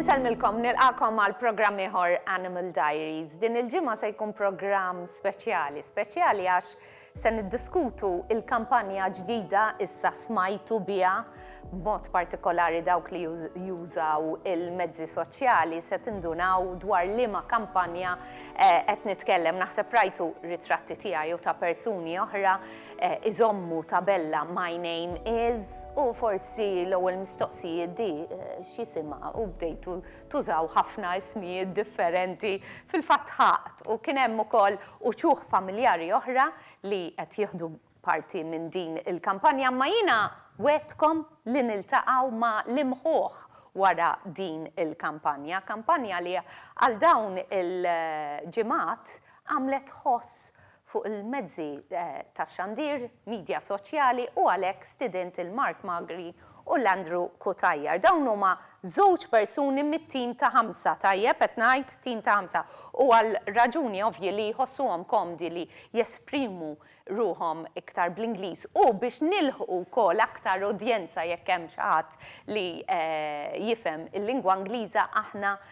Insellmilkom, nilqakom għal programm ieħor Animal Diaries. Din il-ġimgħa se jkun programm speċjali, speċjali għax Se niddiskutu l-kampanja ġdida Issa Smajtu Biha, b'mod partikolari dawk li jużaw il-mezzi soċjali se tindunaw dwar liema kampanja qed nitkellem. Naħseb rajtu ritratti tiegħi u ta' persuni oħra iżommu tabella My name is u forsi l-ewwel mistoqsijiet di x'jisimha u bdejtu Tużaw ħafna ismijiet differenti, fil-fatt ħaqt u kien hemm ukoll uċuħ familjari oħra li qed jieħdu parti minn din il-kampanja imma jiena wegħdtkom li niltaqgħu ma' l-imħuħ wara din il-kampanja, kampanja li għal dawn il-ġimgħat għamlet ħoss fuq il-mezzi tax-xandir, midja soċjali u għalhekk stidint lil Mark Magri u lil Andrew Cutajar. Dawn huma żewġ persuni mit-tim ta' ħamsa, tajjeb qed ngħid tim ta' ħamsa, u għal raġuni ovvji li jħossuhom komdi li jesprimu ruħhom iktar bl-Ingliż u biex nilħqu wkoll aktar udjenza jekk hemm xi ħadd li jifhem il-lingwa Ingliża aħna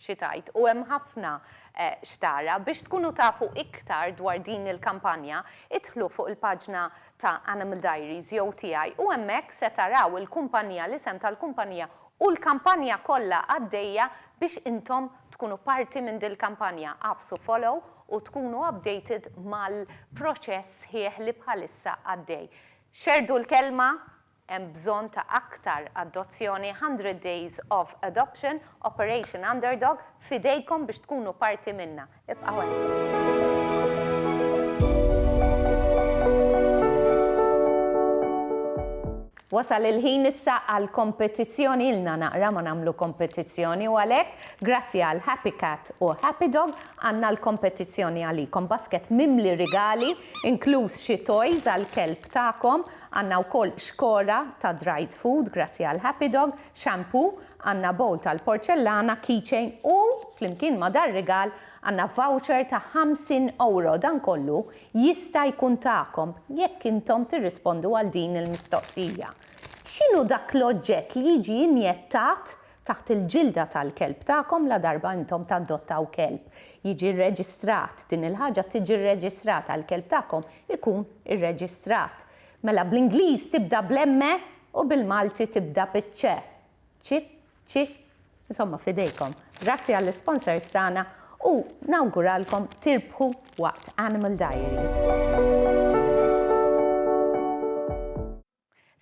xi tgħid u hemm ħafna x'tara. Biex tkunu tafu iktar dwar din il-kampanja, idħlu fuq il-paġna ta' Animal Diaries jew tiegħi u hemmhekk se taraw il-kumpanija, l-isem tal-kumpanija u l-kampanja kollha għaddejja biex intom tkunu parti minn dil-kampanja. Agħfsu follow u tkunu updated mal-proċess sħiħ li bħalissa għaddej. Xerrdu l-kelma Hemm bżonn ta' aktar adozzjoni Hundred Days of Adoption, Operation Underdog, f'idejkom biex tkunu parti minnha. Ibqgħu hemm. Wasal il-ħin issa għal kompetizzjoni, ilna naqra ma nagħmlu kompetizzjoni u għalhekk grazzi għal Happy Cat u Happy Dog għandna l-kompetizzjoni għalikom, basket mimli rigali inkluż xi toys għall-kelb tagħkom Għandna wkoll xkora ta' dried food grazzi għal Happy Dog, shampoo, għandna bowl tal-porċellana, keychain u, flimkien ma' dar-rigal, għandna voucher ta' 50 ewro. Dan kollu jista' jkun tagħkom jekk intom tirrispondu għal din il-mistoqsija, X'inhu dak l-oġġett li jiġi injettat taħt il-ġilda tal-kelb tagħkom ladarba intom tadottaw kelb, jiġi rreġistrat, din il-ħaġa tiġi rreġistrata, il-kelb tagħkom ikun irreġistrat. Mela bl-Ingliż tibda bl-M u bil-Malti tibda biċ-C. Ci, ci, insomma f'idejkom. Grazzi għall-isponsors tagħna u nawguralkom tirbħu waqt Animal Diaries.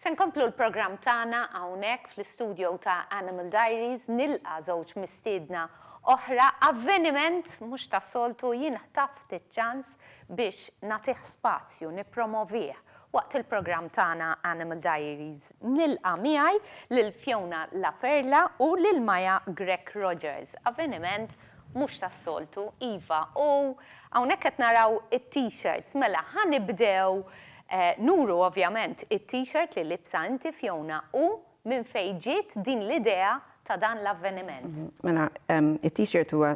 Se nkomplu l-programm tagħna hawnhekk fl-istudjo ta' Animal Diaries, nilqa' żewġ mistiedna oħra, avveniment mhux tas-soltu, jien ħtaft iċ-ċans biex nagħtih spazju, nippromovih waqt il-programm tagħna Animal Diaries. Nilqa' miegħi lil Fiona La Ferla u lil Maya Grech Rogers, avveniment mhux tas-soltu, iva, u hawnhekk qed naraw it-T-shirts, mela ħa nibdew Nuru ovvjament it-T-shirt li libsa inti Fiona u minn fejn ġiet din l-idea ta' dan l-avveniment. Mela, it-T-shirt huwa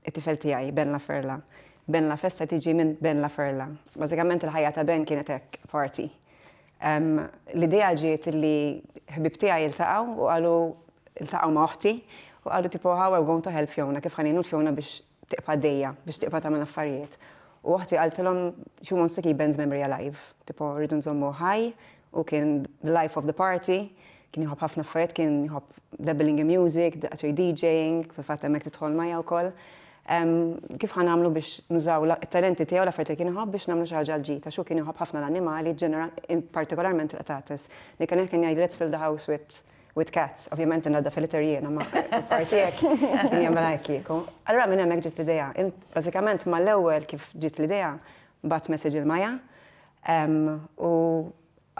t-tifel tiegħi, Ben La Ferla. Ben La Festa tiġi minn Ben La Ferla. Bażikament il-ħajja ta' Ben kienet hekk, party. L-idea ġiet li ħbieb tiegħi ltaqgħu u qalu, ltaqgħu ma' oħti, u qalu tipo how are we going to help Fiona, kif ħa ngħinu lil Fiona biex tieqfa' għaddejja, biex tieqfa' tagħmel affarijiet. U oħti qaltilhom she wants to keep Ben's memory alive, tipo rridu nżommuh ħaj, hu kien the life of the party, kien jħobb ħafna affarijiet, kien jħobb dabbling in music, actually DJing, fil-fatt hemmhekk tidħol Maya wkoll. Kif ħa nagħmlu biex nużaw it-talenti tiegħu, l-affarijiet li kien iħobb biex nagħmlu xi ħaġa għall-ġid, għax hu kien iħobb ħafna l-annimali, partikolarment il-qtates. Nick and Neck kien jgħid let's fill the house with with cats, ovvjament innaddaf il-litter jiena ma parti hekk, kien jagħmel hekk kieku. Allura minn hemmhekk ġiet l-idea. Bażikament mal-ewwel kif ġiet l-idea, bat message il Maja u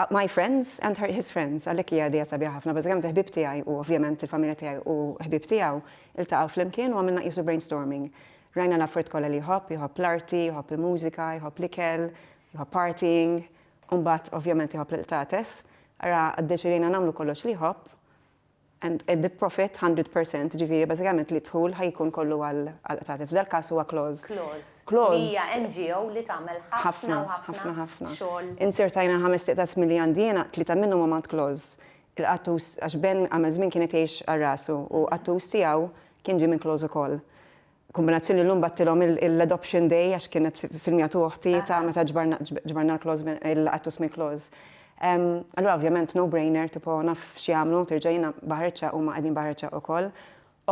my friends and her, his friends, għalhekk hija idea sabiħa ħafna, bażikament il-ħbib tiegħi u ovvjament il-familja tiegħi u ħbib tiegħu iltaqgħu flimkien u għamilna qisu brainstorming. Rajna l-affarijiet kollha li jħobb, jħobb l-arti, jħobb il-mużika, jħobb l-ikel, jħobb partying, U mbagħad ovvjament iħobb lil tates, ara ddeċidejna nagħmlu kollox li jħobb and the profit 100 percent, jiġifieri bażikament li d-dħul ħa jkun kollu għal tates. F'dal-każ huwa clause. Clause. Clause. Li hija NGO li tagħmel ħafna u ħafna. Ħafna, ħafna, ħafna. Inzertajna ħamest iqtas milli għandi jiena, tlieta minnhom huma għand clause. Il-qattus, għax Ben għamel żmien kien qed jgħix għal rasu u qattus tiegħu kien ġie minn clause ukoll. Kombinazzjoni llum battilhom l-adoption day għax kienet filmija tu oħti ta' meta ġbarna l-klawż il-qattus mill-klawż. Allura ovvjament no brainer tipo naf x'jagħmlu terġa' jiena baħarċċa huma qegħdin baħarċċa ukoll.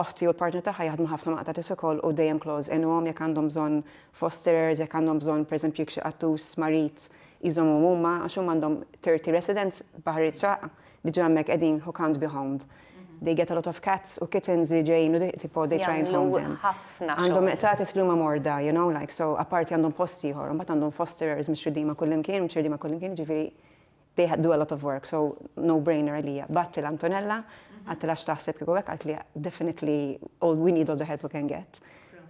Oħti u l-partner tagħha jaħdmu ħafna ma' qtatis ukoll u dejjem klawż għinuhom jekk għandhom bżonn fosterers, jekk għandhom bżonn pereżempju jekk xi qattus marid jżommuhom huma għax huma għandhom 30 residents baħarċċa diġà hemmhekk qegħdin who can't be homed. they get a lot of cats u kittens li ġejjin u tipo they try and home them. Għandhom meqtatis li huma morda, you know, like so apparti għandhom post ieħor, imbagħad għandhom fosterers mhux ridima kullimkien, mhux ridima kullimkien, ġifieri they do a lot of work, so no brainer għalija. Batti l-Antonella, għatti lax taħseb kieku hekk għalt li definitely all we need all the help we can get.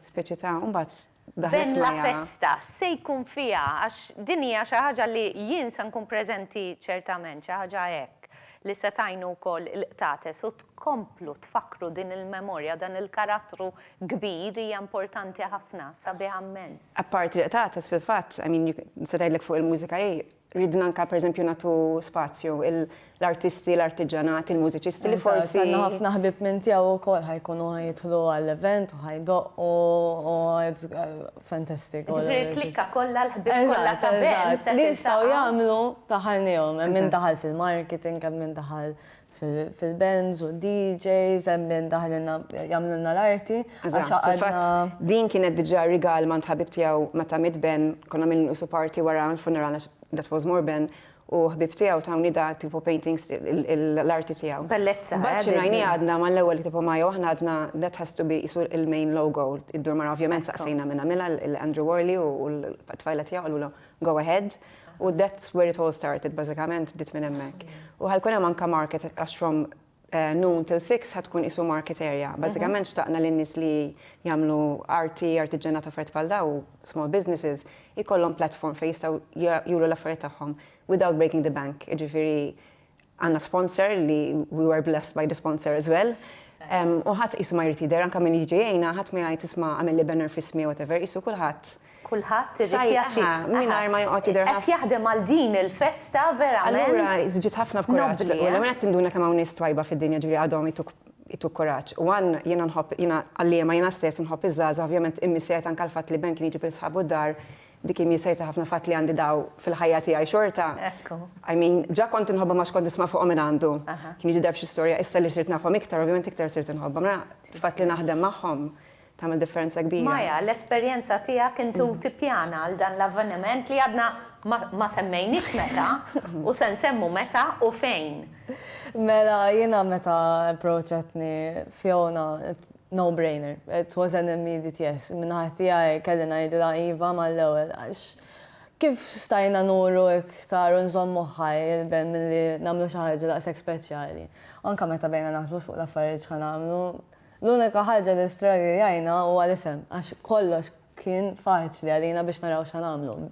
Speċi ta' mbagħad Bella festa se jkun fiha għax din hija xi ħaġa li jien se nkun preżenti ċertament, xi ħaġa hekk li se tgħinu wkoll il-qtates u tkomplu tfakkru din il-memorja, dan il-karattru kbir hija importanti ħafna, sabiħa mmens. Apparti l-qtates fil-fatt, I mean, nista' tgħidlek fuq il-mużika hi Ridna anke pereżempju nagħtu spazju l-artisti, l-artiġanat, il-mużiċisti li forsi. Għandna ħafna ħbib minn tiegħu wkoll ħajkunu ħajidħlu għall-event u ħajdoq u fantastic. Ġifieri l-klikka kollha l-ħbib kollha ta' band. Li jistgħu jagħmlu daħalnihom, hemm min daħal fil-marketing, hemm min daħal fil-bands u DJs, hemm min daħlilna jagħmlilna l-arti. Fil-fatt din kienet diġà rigal ma' ħabib tiegħu meta miet Ben, konna għamilna usu party wara l-funeral that was more Ben, u ħbieb tiegħu tawni da tipo paintings l-arti tiegħu. Bellezza. Mbagħad xi ngħini għadna mal-ewwel tipo ma jew aħna għadna that has to be isu il-main logo, id-dur mara ovvjament saqsejna minn għamilha l-Andrew Worley u l-tfajla tiegħu qalulhom Go Ahead, u that's where it all started, bażikament bdiet minn hemmhekk. U ħa jkun hemm anke market għax from noon till six ħa tkun qisu market area. Bażikament xtaqna li n-nies li jagħmlu arti, artiġġanat u affarijiet bħal dawn u small businesses ikollhom platform fejn jistgħu juru l-affarijiet tagħhom without breaking the bank, jiġifieri Għandna sponsor li we were blessed by the sponsor as well. U ħadd qisu ma jrid jidher anke min jiġi jgħinha, ħadd ma jgħid isma' għamilli banner f'ismi whatever, qisu kulħadd. Kulħadd irid jagħti. Mingħajr ma joqgħod jidher. Qed jaħdem għal din il-festa verament. Allura żġid ħafna f'kuraġġ. L-ewwel qed tinduna kemm hawn nies twajba fid-dinja ġifieri għadhom ituk kuraġġ. U għan jiena nħobb jiena għalliema jiena stess nħobb iż-żgħażagħ ovvjament immiss jgħid anke l-fatt li Ben kien jiġi bil-sħabu d-dar Dik hi miesejta ħafna fatt li għandi daw fil-ħajja tiegħi xorta. Ekku. I mean, ġa kont inħobbhom għax kont nisma' fuqhom minn għandu. Aha. Kien jidher b'xi storja, issa li sirt nafhom iktar, ovvjament iktar sirt inħobbhom. Mela, il-fatt li naħdem magħhom tagħmel differenza kbira. Maya, l-esperjenza tiegħek int u tippjana għal dan l-avveniment li għadna ma ma semmejniex meta u se nsemmu meta u fejn. Mela, jiena meta approachatni Fiona, No brainer. It was an immediate yes. Min-naħa tiegħi kelli ngħidilha iva mal-ewwel għax kif stajna nuru iktar u nżommuh ħaj il-ben milli nagħmlu xi ħaġa daqshekk speċjali. Anke meta bdejna naħsbu fuq l-affarijiet x'ħa nagħmlu, l-unika ħaġa li straggiljajna huwa l-isem għax kollox kien faċli għalina biex naraw x'ħa nagħmlu.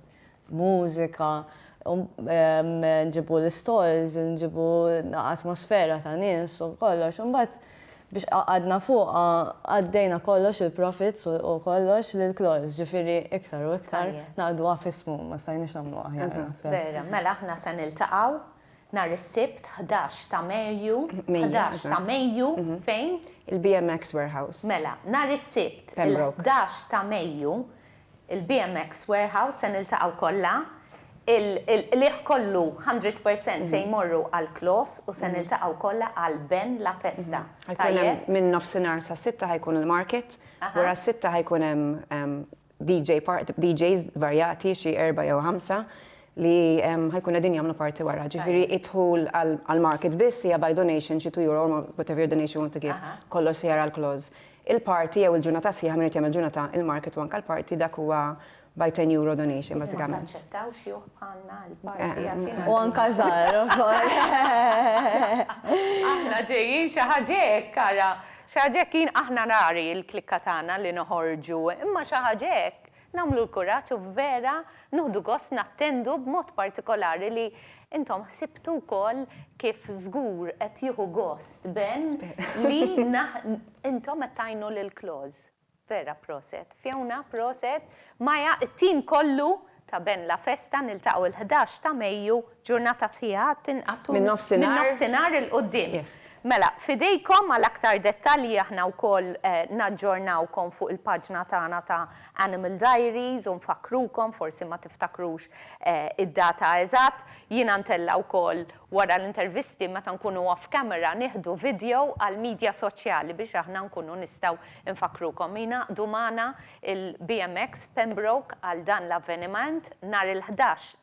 mużika, nġibu l-istalls, nġibu atmosfera ta' nies u kollox. Imbagħad biex qagħadna fuqha għaddejna kollox il-profits u kollox lil Claws, ġifieri iktar u iktar ngħaqduha f'ismu, ma stajniex nagħmlu aħjar naħseb. Vera, mela aħna se niltaqgħu nhar is-Sibt ħdax ta' Mejju, ħdax ta' Mejju, fejn? Il-BMX Warehouse. Mela, nhar is-Sibt il-ħdax ta' Mejju il-BMX Warehouse se niltaqgħu kollha, il-qligħ kollu hundred percent se jmorru għall-Clos u se niltaqgħu kollha għal Ben La Festa. Tajjeb? Minn nofsinhar sas-sitta ħa jkun il-market, wara s-sitta ħa jkun hemm DJ party, DJs varjati xi erbgħa jew ħamsa li ħa jkunu qegħdin jagħmlu party wara. Ġifieri d-dħul għall-market biss hija by donation xi two euro, whatever your donation you want to give, kollox se jar għall-Clos. il-party jew il-ġurnata sħiħa min irid jagħmel ġurnata il-market u anke l-party dak huwa by ten euro donation bażikament. Biss ma taċċettawx juh bħalna l-party għax jiena. U anke żgħar ukoll. Aħna ġejjin xi ħaġa hekk ara, xi ħaġa hekk jien aħna rari l-klikka tagħna li noħorġu imma xi ħaġa hekk. Nagħmlu l-kuraġġ u vera nuħdu gost nattendu b'mod partikolari li intom ħsibtu wkoll kif żgur qed jieħu gost Ben li intom qed tgħinu lil Claus. Vera proset Fiona, proset Maya, it-tim kollu ta' Ben La Festa niltaqgħu l-ħdax ta' Mejju Ġurnata sħiħa għad tinqagħad tul. Min-nofsinhar. Min-nofsinhar 'il quddiem. Yes. Mela, f'idejkom għal aktar dettalji aħna wkoll naġġornawkom fuq il-paġna tagħna ta' Animal Diaries u nfakkrukom, forsi ma tiftakrux id-data eżatt. Jiena ntella' wkoll wara l-intervisti meta nkunu off camera nieħdu video għall-media soċjali biex aħna nkunu nistgħu nfakkrukom. Jingħaqdu magħna il-BMX Pembroke għal dan l-avveniment nhar il-ħdax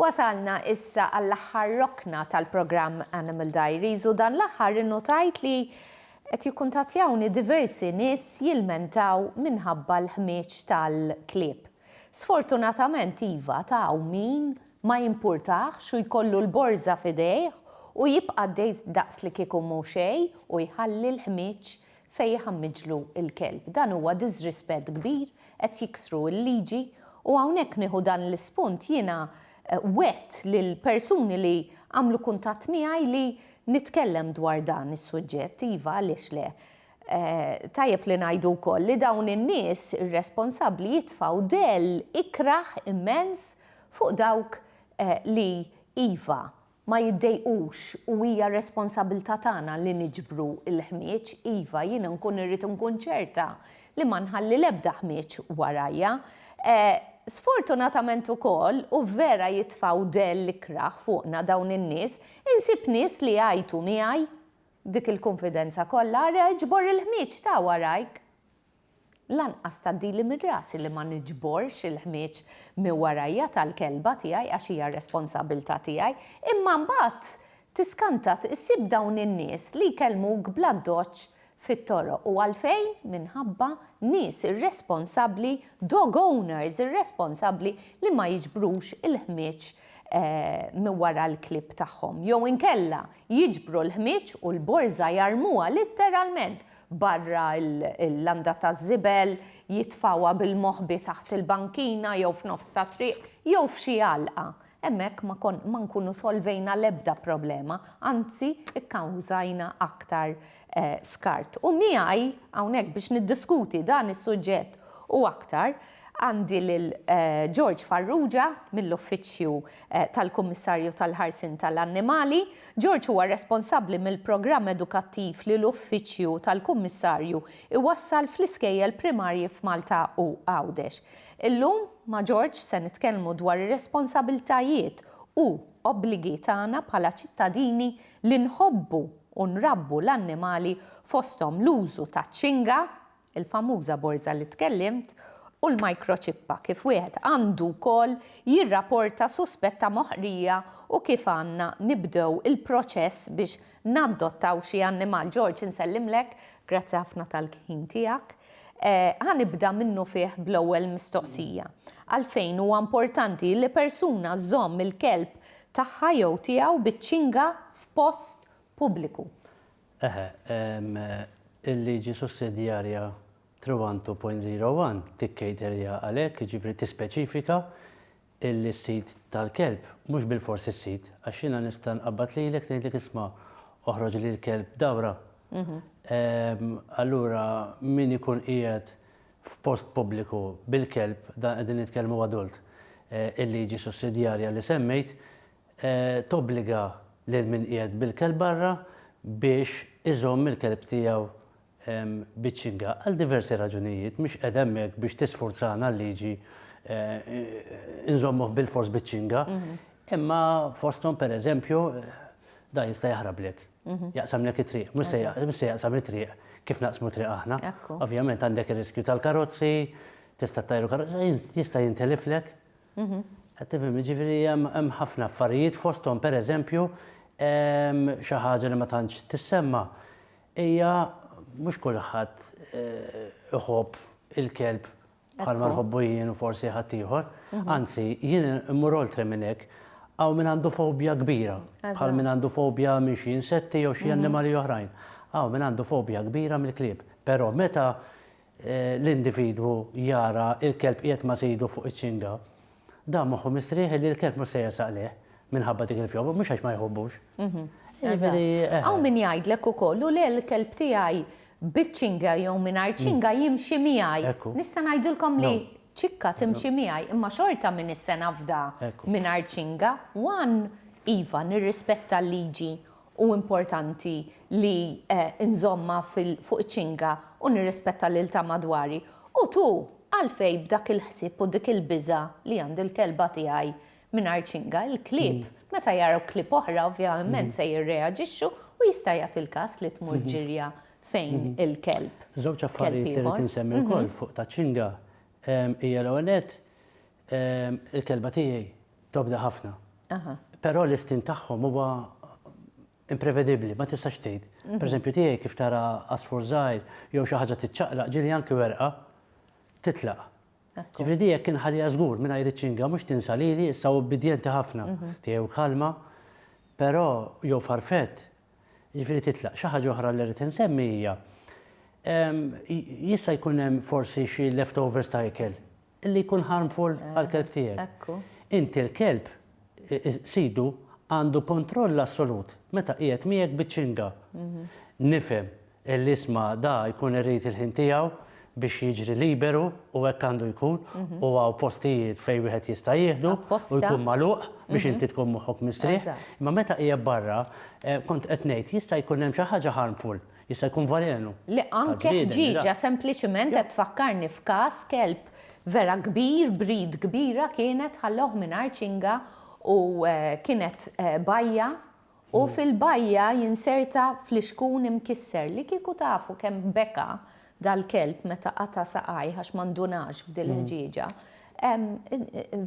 Wasalna issa għall-aħħar rokna tal-programm Animal Diaries u dan l-aħħar innutajt li qed jikkuntattjawni diversi nies jilmentaw minħabba l-ħmieġ tal-klieb. Sfortunatament iva t'hawn min ma jimpurtahx u jkollu l-borża f'idejh u jibqa' dejjs daqslikieku mhu xejn u jħalli l-ħmieġ fejn jħammġlu l-kelb. Dan huwa diżrispett kbir, qed jiksru l-liġi u hawnhekk nieħu dan l-ispunt jiena wgħedt lill-persuni li għamlu kuntatt miegħi li nitkellem dwar dan is-suġġett, iva għaliex le. Tajjeb li ngħidu wkoll li dawn in-nies irresponsabbli jitfgħu dell ikrah immens fuq dawk li iva, ma jiddejqux u hija r-responsabbiltà tagħna li niġbru l-ħmieġ, iva, jiena nkun irrid nkun ċerta li ma nħalli l-ebda ħmieġ warajja. Sfortunatament ukoll, u vera jitfgħu dell ikrah fuqna dawn in-nies, insib nies li jgħajtu miegħi b'dik il-kunfidenza kollha, 'Ara, iġbor il-ħmieġ, ta' warajk! Lanqas tgħaddili minn rasi li ma niġborx il-ħmieġ minn warajja tal-kelba tiegħi għax hija r-responsabbiltà tiegħi. Imma mbagħad tiskanta ssib dawn in-nies li jkellmuk bl-addoċċ fit-toroq. U għalfejn? Minħabba nies irresponsabbli, dog owners irresponsabbli li ma jiġbrux il-ħmieġ minn wara l-klieb tagħhom. Jew inkella jiġbru l-ħmieġ u l-borża jarmuha litteralment barra l-landa taż-żibel, jitfgħuha bil-moħbi taħt il-bankina jew f'nofs ta' triq, jew f'xi għalqa. Hemmhekk ma nkunu solvejna l-ebda problema, anzi kkawżajna aktar skart. U miegħi hawnhekk biex niddiskuti dan is-suġġett u aktar għandi lil George Farrugia mill-Uffiċċju tal-Kummissarju tal-Ħarsien tal-Annimali, George huwa responsabbli mill-programm edukattiv li l-Uffiċċju tal-Kummissarju jwassal fl-iskejjel primarji f'Malta u Għawdex. Illum, ma' George se nitkellmu dwar ir-responsabbiltajiet u obbligi tagħna bħala ċittadini li nħobbu u nrabbu l-annimali fosthom l-użu taċ-ċinga, il-famuża borża li tkellimt, u l-mikroċippa, kif wieħed għandu wkoll jirrapporta suspett ta' moħqrija u kif għandna nibdew il-proċess biex nadottaw xi annimal. George, insellimlek, grazzi ħafna tal-ħin tiegħek. Ħa nibda minnufih bl-ewwel mistoqsija. Għalfejn huwa importanti li persuna żżomm il-kelb tagħha jew tiegħu biċ-ċinga f'post pubbliku? Eħe, il-liġi sussidjarja 312.01 tikkejterja għal hekk, jiġifieri tispeċifika illi s-sid tal-kelb, mhux bilfors is-sid, għax jiena nista' nqabbad lilek ngħidlek isma' oħroġli l-kelb dawra. Allura min ikun qiegħed f'post pubbliku bil-kelb, dan qegħdin nitkellmu adult, il-liġi sussidjarja li semmejt, tobbliga lil min qiegħed bil-kelb barra biex iżomm il-kelb tiegħu biċ-ċinga. Għal diversi raġunijiet, mhix qiegħda hemmhekk biex tisfurzana l-liġi nżommuh bilfors biċ-ċinga, imma fosthom pereżempju dan jista' jaħrablek, jaqsamlek it-triq, mhux se jaqsam it-triq kif naqsmu t-triq aħna. Ovvjament għandek ir-riskju tal-karozzi, tista' ttajru karozza, jista' jintiliflek. Qed tifhem, jiġifieri hemm ħafna affarijiet fosthom pereżempju xi ħaġa li ma tantx tissemma' hija mhux kulħadd iħobb il-kelb bħalma nħobbu jien u forsi ħaddieħor, anzi jien immur oltre minn hekk, hawn min għandu fobja kbira bħal min għandu fobja minn xi insetti jew xi annimali oħrajn, hawn min għandu fobja kbira mill-klieb, però meta l-individwu jara l-kelb qiegħed ma' sidu fuq iċ-ċinga, dan moħħu mistrieħ li l-kelb mhux se jersaq lejh minħabba dik il-fjowra, mhux għax ma jħobbux. Hawn min jgħidlek ukoll, u le l-kelb tiegħi biċ-ċinga jew mingħajr ċinga jimxi miegħi. Nista' ngħidilkom li ċikka timxi miegħi, imma xorta min isse nafda mingħajr ċinga, one, iva, nirrispetta l-liġi Hu importanti li nżommha fuq iċ-ċinga u nirrispetta lil ta' madwari. U tu, għalfejn b'dak il-ħsieb u dik il-biża' li għandi l-kelba tiegħi mingħajr ċinga? Il-klieb, meta jaraw klieb oħra, ovvjament se jirreaġixxu u jista' jagħti l-każ li tmur ġirja fejn il-kelb, kelb ieħor. Żewġ affarijiet li rrid insemmi wkoll fuq taċ-ċinga hija l-ewwel nett, Il-kelba tiegħi tobda ħafna. Però l-istin tagħhom huwa imprevedibbli, ma tistax tgħid. Mhm. Pereżempju tiegħi kif tara asfur żgħir jew xi ħaġa tiċċaqlaq ġieli anki werqa titlaq. Ġifri di jekk inħalija żgur minn għajri ċinga mhux tinsa lili issa ubbidjenti ħafna mhm. tiegħu kalma, però jew farfet ġifri titlaq. Xi ħaġa oħra li rrid insemmi hija jista' jkun hemm forsi xi leftovers ta' ikel Li jkun harmful għall-kelb tiegħek. Ekku. Inti l-kelb, sidu, għandu kontroll assolut meta qiegħed miegħek biċ-ċinga. Nifhem li isma' da jkun irid il-ħin tiegħu biex jiġri liberu u hekk għandu jkun u hawn postijiet fejn wieħed jista' jieħdu u jkun magħluq biex inti tkun moħħok mistrieħ. Imma meta qiegħed barra, kont qed ngħid, jista' jkun hemm xi ħaġa harmful. Jista' jkun valenu. Le anke ħġieġa sempliċement qed tfakkarni f'każ kelb vera kbir, breed kbira kienet ħallewh mingħajr ċinga u kienet bajja u fil-bajja jinserta flixkun imkisser li kieku tafu kemm beka dal-kelb meta qata' saqajh għax ma ndunax b'dil-ħġieġa.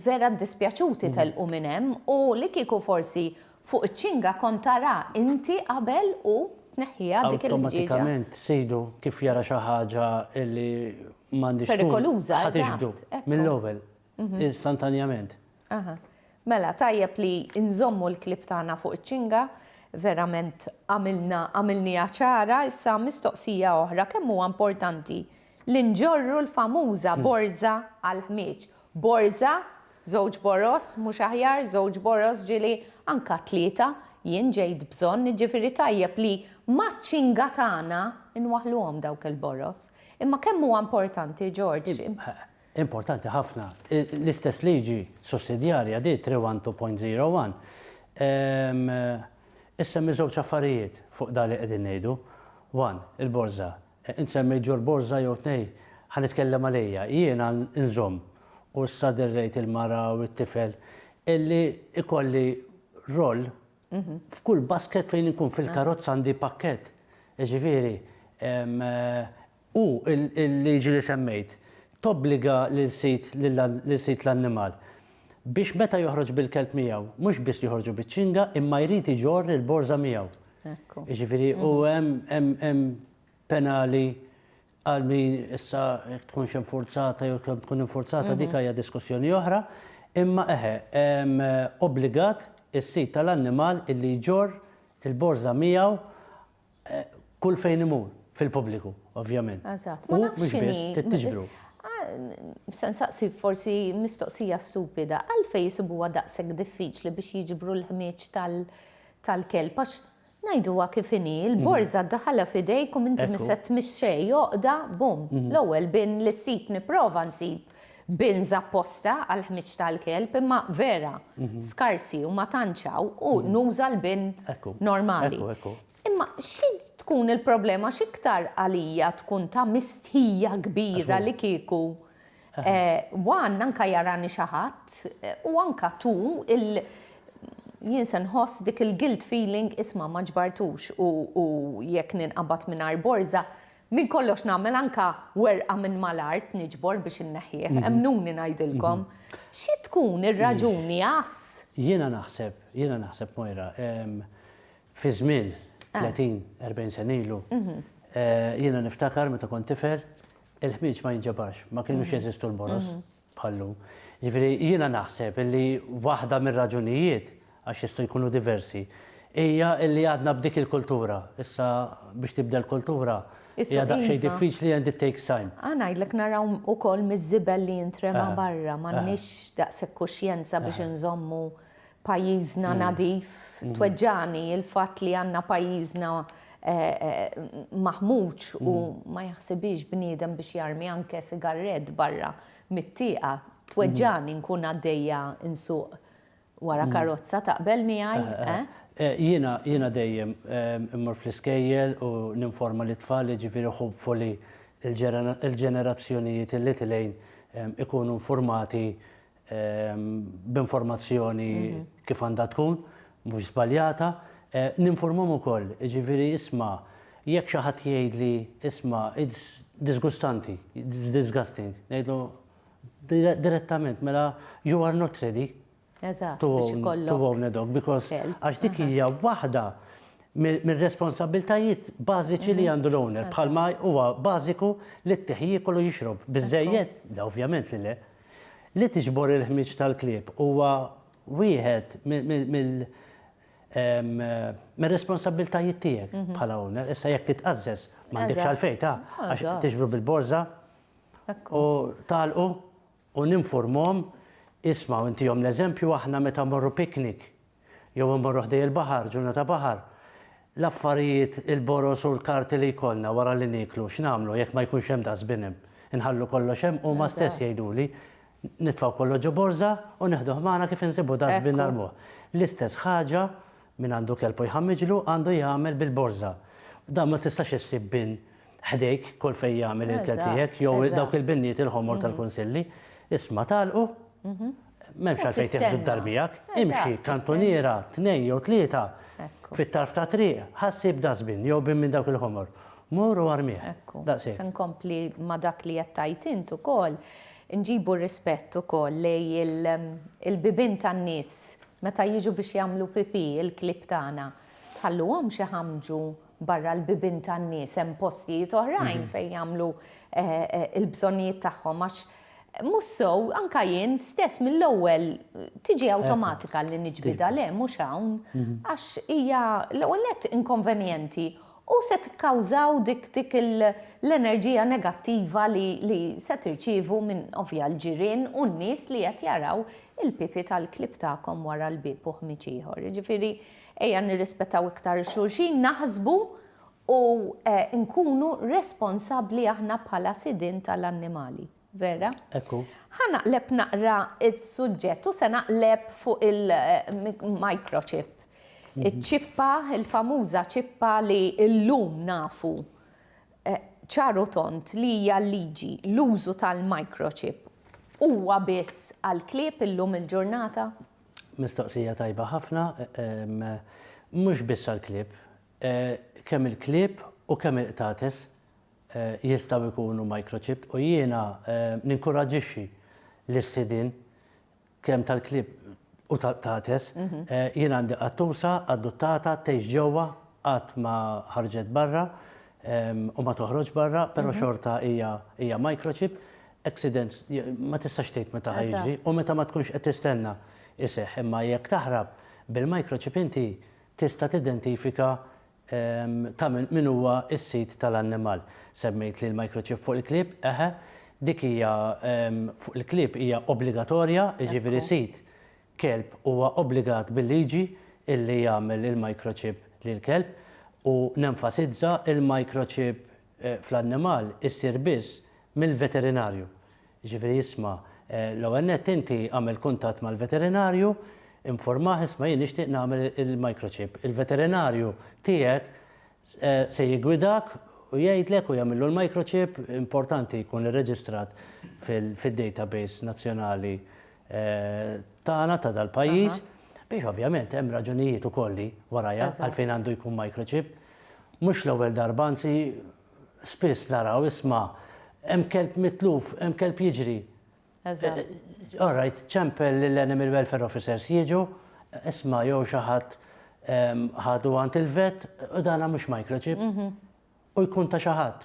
Vera ddispjaċuti telqu minn hemm u li kieku forsi Fuq iċ-ċinga kont tara inti qabel u tneħħiha dik il-ħġieġa. Awtomatikament Sidu kif jara xi ħaġa li m'għandhiex tkun. Perikoluża, eżatt. Ħa tiġbdu mill-ewwel, istantanjament. Aha. Mela, tajjeb li nżommu l-klieb tagħna fuq iċ-ċinga, verament għamilna, għamilniha ċara, issa mistoqsija oħra, kemm huwa importanti li nġorru l-famuża borża għall-ħmieġ Borża, żewġ boroż, mhux aħjar żewġ boroż, ġieli anka tlieta, jien ġejt bżonn, jiġifieri tajjeb li maċ-ċinga tagħna nwaħħluhom dawk il-boroż. Imma kemm huwa importanti, George. Importanti ħafna. L-istess liġi sussidjarja di, 312.01, issemmi żewġ affarijiet fuq dan li qegħdin ngħidu. One, il-borża. Int semmejt Ġorġ Borża jew tnejn, ħa nitkellem għalija. Jiena nżomm, u issa derrejt il-mara u t-tifel, illi ikolli roll f'kull basket fejn inkun fil-karozza għandi pakkett. Jiġifieri, u l-liġi li semmejt tobbliga lil sid l-annimal biex meta joħroġ bil-kelb miegħu mhux biss joħorġu biċ-ċinga imma jrid iġorr il-borża miegħu. Jiġifieri u mhm. hemm hemm penali għal min issa tkunx infurzata jew kemm tkun infurzata mhm. dik hija diskussjoni oħra, imma eħe obbligat is-sid tal-annimal illi jġorr il-borża miegħu kull fejn imur, fil-pubbliku, ovvjament. Eżatt, ma nafx x'inhi. U tiġbru. Se nsaqsi forsi mistoqsija stupida, għalfejn isibuha daqshekk diffiċli biex jiġbru l-ħmieġ tal-kelb? Għax ngħiduha kif inhi, il-borża ddaħħalha f'idejk u m'inti mistgħet tmexxi xejn, għoqda, bum, l-ewwel bin li ssib nipprova nsib. bins apposta għall-ħmieġ tal-kelb, imma vera skarsi u ma tantx hawn u nuża l-bin normali. Imma xi tkun il-problema x'iktar għalija tkun ta' mistħija kbira li kieku one anke jarani xi ħadd u anke tu il jien se nħoss dik il-guilt feeling isma' ma ġbartux u jekk ninqabad mingħajr borża Minn kollox nagħmel anke werqa minn mal-art niġbor biex inneħħih. Emmnuni ngħidilkom. Xi tkun ir-raġuni għas. Jiena naħseb, jiena naħseb Moira, fi żmien 30, 40 sena ilu, jiena niftakar meta kont tifel, il-ħmieġ ma jinġabarx, ma kinux jeżistu l-boroż. bħal hu. Jiġifieri jiena naħseb illi waħda mir-raġunijiet, għax jistgħu jkunu diversi, hija illi għadna b'dik il-kultura. Issa biex tibdel kultura hija daqsxejn diffiċli and it takes time. Ħa ngħidlek naraw ukoll miż-żibel li jintrema barra, m'għandniex daqshekk kuxjenza biex inżommu pajjiżna nadif, tweġġagħni l-fatt li għandna pajjiżna maħmuġ u ma jaħsibhiex bniedem biex jarmi anke sigarrett barra mit-tieqa, tweġġagħni nkun għaddejja nsuq wara karozza, taqbel miegħi, eh? Jiena, jiena dejjem immur fl-iskejjel u ninforma lit-tfal, jiġifieri hopefully il-ġenerazzjonijiet li tilgħin ikunu nfurmati b'informazzjoni kif għandha tkun, mhux żbaljata. Ninfurmhom ukoll, jiġifieri isma' jekk xi ħadd jgħidli isma' it's disgustanti, it's disgusting, ngħidlu direttament mela you are not ready to own a dog because għax dik hija waħda mir-responsabbiltajiet bażiċi li għandu l-owner bħalma huwa bażiku li t-tieħ jiekol u jixrob. Biżżejjed? Le ovvjament li le. Li tiġbor il-ħmieġ tal-klieb huwa wieħed mir-responsabbiltajiet tiegħek bħala owner. Issa jekk titqażżeż m'għandekx għalfejn ta' għax tiġbru bil-borża u tagħlqu u ninfurmuhom, isma' u ntihom l-eżempju aħna meta mmorru picnic. jew immorru ħdej il-baħar, ġurnata baħar, l-affarijiet, il-boroż u l-karti li jkollna wara li nieklu, x'nagħmlu jekk ma jkunx hemm dustbin hemm? Inħallu kollox hemm? Huma stess jgħiduli, nitfgħu kollox ġo borża u neħduh magħna kif insibu dustbin narmuh. L-istess ħaġa, min għandu kelb u jħammiġlu għandu jagħmel bil-borża. Dan ma tistax issib bin ħdejk kull fejn jagħmel il-kelb tiegħek jew dawk il-binniet il-ħomor tal-kunsilli. Isma' tagħlqu, M'hemmx għalfejn tieħdu d-dar miegħek. Imxi kantuniera, tnejn jew tlieta fit-tarf ta' triq, ħassib dustbin jew bin minn dawk il-ħomor. Mur u armih. Daqshekk. Se nkompli ma' dak li qed tgħid int ukoll. Inġibu r-rispett ukoll lejn il-bibien tan-nies meta jiġu biex jagħmlu pipì, il-klieb tagħna. Tħalluhomx iħammġu. Barra l-bibien tan-nies hemm postijiet oħrajn fejn jagħmlu l-bżonnijiet tagħhom għax mhux sew anke jien stess mill-ewwel tiġi awtomatika li niġbidha le mhux hawn għax hija l-ewwel nett inkonvenjenti u se tikkawżaw dik dik l-enerġija negattiva li se tirċievu minn ovvja l-ġirien u n-nies li qed jaraw il-pipi tal-klieb tagħkom wara l-bieb u ħmieġ ieħor. Jiġifieri Ejja nirrispettaw iktar il-xulxin, naħsbu u nkunu responsabbli aħna bħala sidien tal-annimali. Vera? Ekku. Ħa naqleb naqra s-suġġett u se naqleb fuq il-microchip. Mhm. Iċ-ċippa, il-famuża ċippa li llum nafu eh, ċaru tont li hija liġi l-użu tal-microchip huwa biss għal klieb illum il-ġurnata? Mistoqsija tajba ħafna. Mhux biss għall-klieb. Kemm il-klieb u kemm il-qtates jistgħu jkunu microchipped u jiena ninkuraġġixxi lis-sidien kemm tal-klieb u tal-qtates. Jien għandi qattusa adottata tgħix ġewwa qatt ma ħarġet barra. u ma toħroġx barra, però mhm. xorta hija microchip, accident ma tistax tgħid meta ħajġi u meta ma tkunx qed tistenna iseħ, imma jekk taħrab bil-microchip inti tista' tidentifika ta' min huwa s-sid tal-annimal. Semmejt li l-microchip fuq il-klib, eħe, dik hija fuq il-klib hija obbligatorja, jiġifieri sid kelb huwa obbligat bil-liġi illi jagħmel il-microchip lill-kelb u nenfasizza il-microchip fl-annimal issir biss mill-veterinarju. Jiġifieri isma' l-ewwel nett inti agħmel kuntatt mal-veterinarju, infurmah isma' jien nixtieq nagħmel il-microchip. Il-veterinarju tiegħek Se jiggwidak u jgħidlek u jagħmillu l-microchip, importanti jkun irreġistrat fid-database nazzjonali tagħna ta' dal-pajjiż, biex ovvjament hemm raġunijiet ukoll li warajha għalfejn għandu jkun microchip. Mhux l-ewwel darba, anzi spiss nara u isma' hemm kelb mitluf, hemm kelb jiġri. Eżatt. All right, ċempel lill-Animal Welfare Officers jiġu, isma' jew xi ħadd ħadu għand il-vet u dana mhux microchip u jkun ta' xi ħadd.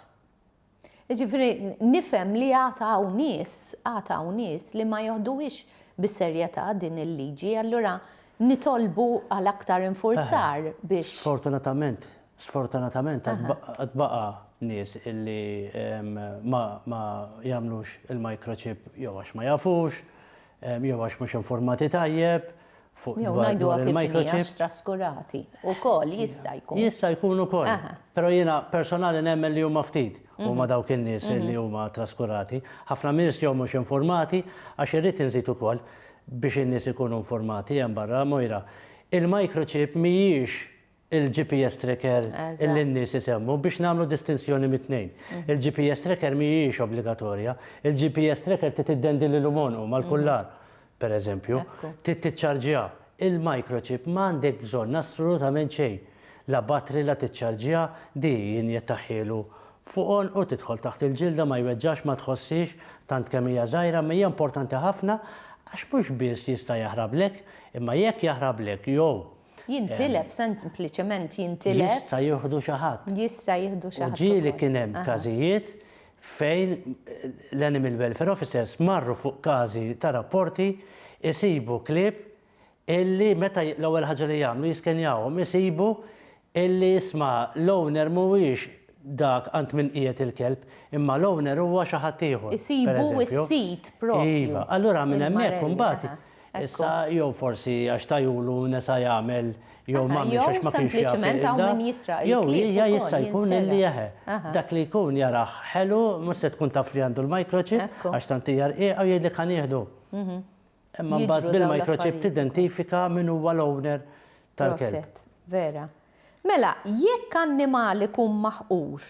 Jiġifieri nifhem li għad hawn nies, għad hawn nies li ma joħduhiex bis-serjetà din il-liġi, allura nitolbu għal aktar infurzar biex. Sfortunatament, Sfortunatament għad baqa' nies illi ma jagħmlux il-microchip jew għax ma jafux, jew għax mhux informati tajjeb fuq il-microchip. Traskurati wkoll jista' jkun. Jista' jkun ukoll. Però jiena personali nemmen li huma ftit huma dawk in-nies li huma traskurati. Ħafna nies jew mhux informati għax irrid inżid ukoll biex in-nies ikunu informati hemm barra, Moira, il-microchip mhijiex il-GPS tracker li n-nies isemmu biex nagħmlu distinzjoni mit-tnejn. Il-GPS tracker mhijiex obbligatorja. Il-GPS tracker trid iddendi l-ilumonu mal-kullar, per eżempju. Trid tiċċarġiha. Il-microchip m'għandek bżonn assolutament xejn. La batri la tiċċarġiha, di jinjettaħhielu fuq għonqu, tidħol taħt il-ġilda, ma jweġġax, ma tħossiex, tant kemm hija żgħira, imma hija importanti ħafna għax mhux biss jista' jaħrablek, imma jekk jaħrablek jew Jintilef, sempliċement jintilef. Jista' jieħdu xi ħadd. Jista' jieħdu xi ħadd. U ġieli kien hemm każijiet fejn l-animal welfare officers marru fuq każi ta' rapporti jsibu klieb illi meta l-ewwel ħaġa li jagħmlu jiskenjawhom isibu illi isma' l-owner mhuwiex dak għand min qiegħed il-kelb imma l-owner huwa xi ħadd ieħor. Isibu s-sid propju. Iva, allura minn hemmhekk imbagħad Issa, jew forsi għax tajulu nesa' jagħmel jew m'għamilx għax ma kienx jaf iqilha, jew hija jista' jkun li eħe, dak li jkun jarah ħelu mhux se tkun taf li għandu l-microchip għax tant hija rqiqa u jgħidlek ħa nieħdu. Imma mbagħad bil-microchip tidentifika min huwa l-owner tal-kelb. Proset, vera. Mela, jekk annimal ikun maħqur,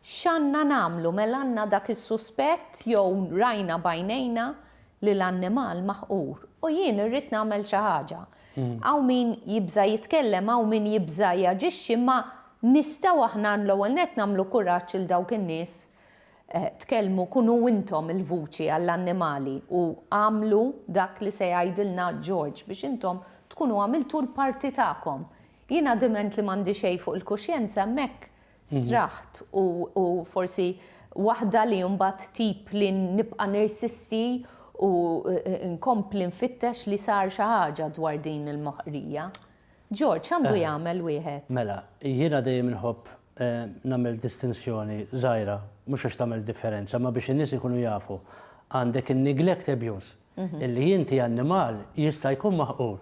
X'għandna nagħmlu mela għandna dak is-suspett jew rajna b'għajnejna li l-annimal maħqur u jien irrid nagħmel xi ħaġa. Hawn min jibża' jitkellem, hawn min jibża' jaġixxi imma nistgħu aħna l-ewwel nett nagħmlu kuraġġ lil dawk in-nies tkellmu kunu intom il-vuċi għall-annimali u agħmlu dak li se jgħidilna George biex intom tkunu għamiltu l-parti tagħkom. Jiena diment li m'għandi xejn fuq il-kuxjenza hemmhekk sraħt u u forsi waħda li mbagħad tip li nibqa' nirsisti u nkompli nfittex li sar xi ħaġa dwar din il-moħqrija. George, x'għandu jagħmel wieħed? Mela, jiena dejjem inħobb nagħmel distinzjoni żgħira, mhux għax tagħmel differenza, imma biex in-nies ikunu jafu. Għandek in-neglect abuse, Illi jinti annimal jista' jkun maħqur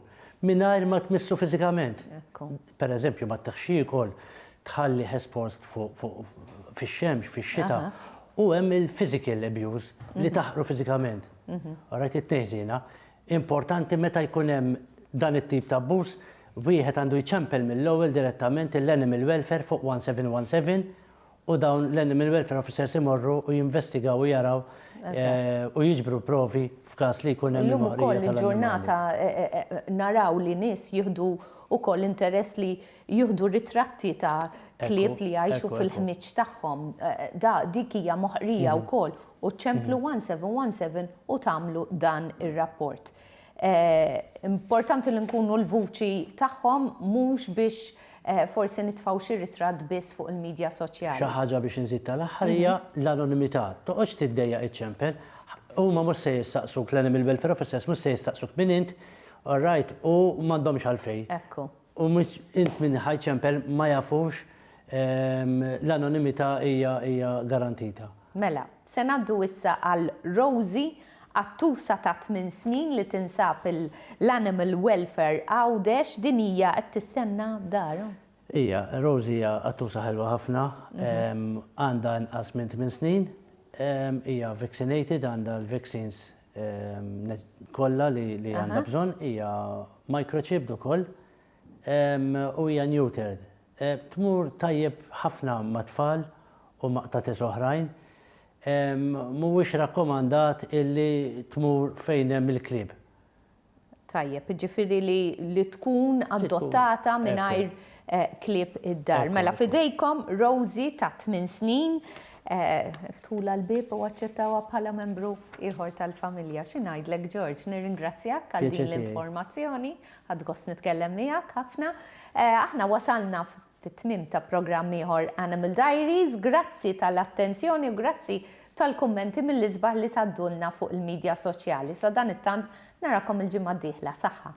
mingħajr ma tmissu fiżikament. Per eżempju, ma ttiħx jiekol, tħallih espost fix-xemx, fix-xita, u hemm il-physical abuse, li taħqru fiżikament. Alright, it-tnejn żiena. Importanti meta jkun hemm dan it-tip ta' abbuż, wieħed għandu jċempel mill-ewwel direttament lill-Animal Welfare fuq 1717, u dawn l-animal welfare officers imorru u jinvestigaw u jaraw u jiġbru provi f'każ li jkun hemm il-moqrija tal-annimali. Illum ukoll il-ġurnata naraw li nies jieħdu wkoll interess li jieħdu ritratti ta' klieb li jgħixu fil-ħmieġ tagħhom. Dik hija moħqrija wkoll u ċemplu 1717 u tagħmlu dan ir-rapport. Importanti li nkunu l-vuċi tagħhom mhux biex Forsi nitfgħu xi ritratt biss fuq il-midja soċjali. Xi ħaġa biex inżid tal-aħħar hija l-anonimità. Toqgħodx tiddejjaq iċċempel. Huma mhux se jistaqsuk, l-Animal Welfare Officers mhux se jistaqsuk min int, alright, u m'għandhomx għalfejn. Ekku. U mhux int min ħa jċempel, ma jafux, l-anonimità hija garantita. Mela, se ngħaddu issa għal Rosie, qattusa ta' tmien snin li tinsab l-Animal Welfare Għawdex. Din hija qed tistenna darha. Hija, Rosie hija qattusa ħelwa ħafna. Għandha inqas minn tmien snin. Hija vaccinated, għandha l-vaccines kollha li għandha bżonn. Hija microchipped ukoll u hija neutered. Tmur tajjeb ħafna mat-tfal u ma' qtates oħrajn. Mhuwiex rakkomandat illi tmur fejn hemm il-klieb. Tajjeb, jiġifieri li tkun adottata mingħajr klieb id-dar. Mela f'idejkom Rosie ta' tmien snin. Iftħulha l-bieb u aċċettawha bħala membru ieħor tal-familja. Xi ngħidlek George, nirringrazzjak għal din l-informazzjoni. Ħadt gost nitkellem miegħek ħafna. Aħna wasalna fit-tmiem ta' programm ieħor Animal Diaries. Grazzi tal-attenzjoni u grazzi tal-kummenti mill-isbaħ li tgħaddulna fuq il-midja soċjali. Sadanittant narakom il-ġimgħa d-dieħla. Saħħa.